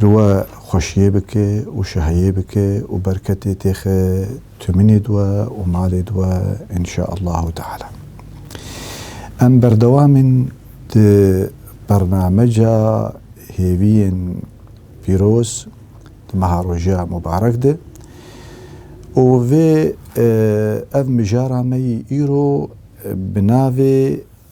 li we xweşiyê bike û şehiyê bike û berketê têxe tûminê di we û malê di we înşaallahu teala. Em berdewam in di bernameca hêviyên pîroz di meha roja mubarek de û vê ev mijara me yî îro bi navê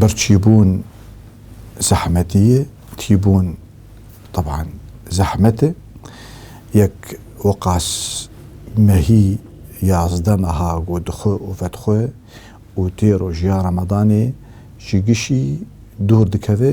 birçîbûn zehmetî ye, tîbûn teban zehmet e. Yek weqas mehî yazdeh meha got di xwe û vet xwe û tê rojiya Ramadanê ji gişî dûr dikeve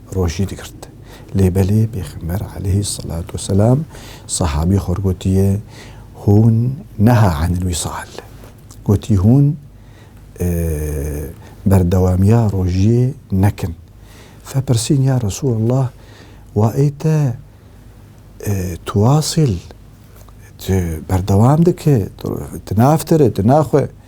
rojî digirt. Lê belê Pêxember aleyhis selat û selam sehabî xwe gotiye, Hûn neha enil wisal. Gotî hûn berdewamiya rojiyê nekin. Fe pirsîn ya Resûlallah wa ê te tuwasil tu berdewam dike, tu naftere, tu naxwe?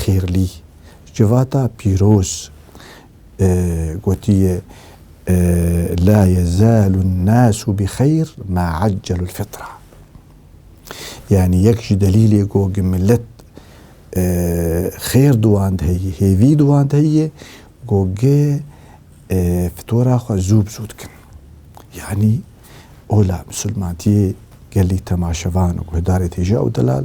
Xêrlî civata pîroz gotiye La yezalu nasu bi xeyr ma accelul fitra. Yani yek ji delîlê ku gi milet xêr di wan de heye, hêvî di wan de heye ku gi fitora xwe zû bi zû dikin. Yani ola misilmantiyê gelî temaşevan û guhdarê têje ew delal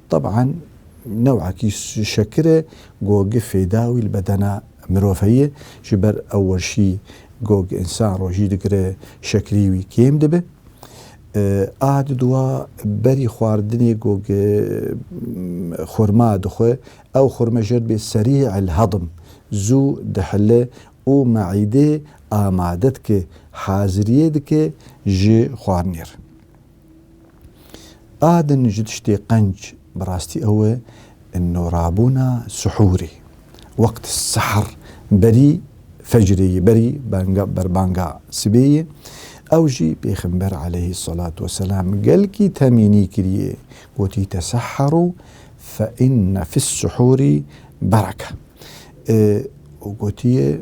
Teban new'ekî şekir e ku gi fêda wî li bedena mirov heye. Ji ber ew weşî ku însan rojî digire şekirî wî kêm dibe. A di duwa berî xwaridinê ku xurma dixwe, ew xurme jê dibê serî el hedim, zû dihile û me'îdê amade dike, haziriyê dike ji xwarinê re. A din ji tiştê qenc bi rastî ew e norabûna sihûrê. Wext sihir berî fecrê ye, berî banga berbanga sibê ye. Ew jî Pêxember aleyhî selatû weselam gelkî temînî kiriye. Gotî tesehherû fe inne fis sihûrî bereke. Û gotiye.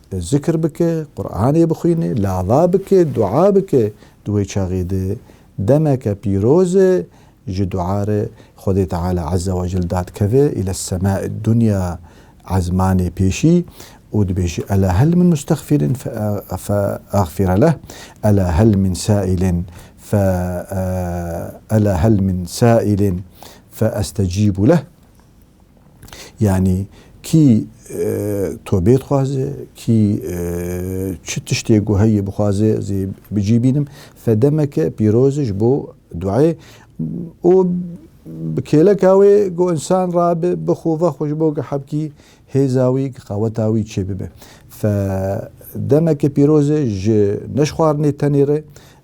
Zikr bike, Quranê bixwîne, lava bike, dua bike. Di wê çaxê de demeke pîroz e ji dua re Xwedê Teala Eze Wecel dadkeve île semai dunya ezmanê pêşî û dibêje ela hel min mustexfîrin fe exfîre leh, ela hel min saîlin fe ela hel min saîlin fe estecîbu leh. Yanî kî tobê dixwaze, kî çi tiştê ku heyê bixwaze ez ê bicî bînim. Fedemeke pîroz e ji bo duayê û bi kêleka wê ku insan rabe bixwe vexwe ji bo ku hebkî hêza wî qeweta wî çêbibe. Fe demeke pîroz e ji neşxwarinê tenê re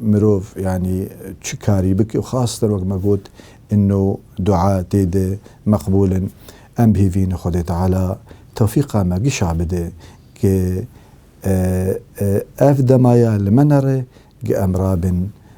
Mirov yanî çi karî bike û xaster wek me got îno dua tê de meqbûl in. Em bihêvîn Xwedê Teala tewfîqa me gişa bide ke ev dema ya li me nere ke em rabin.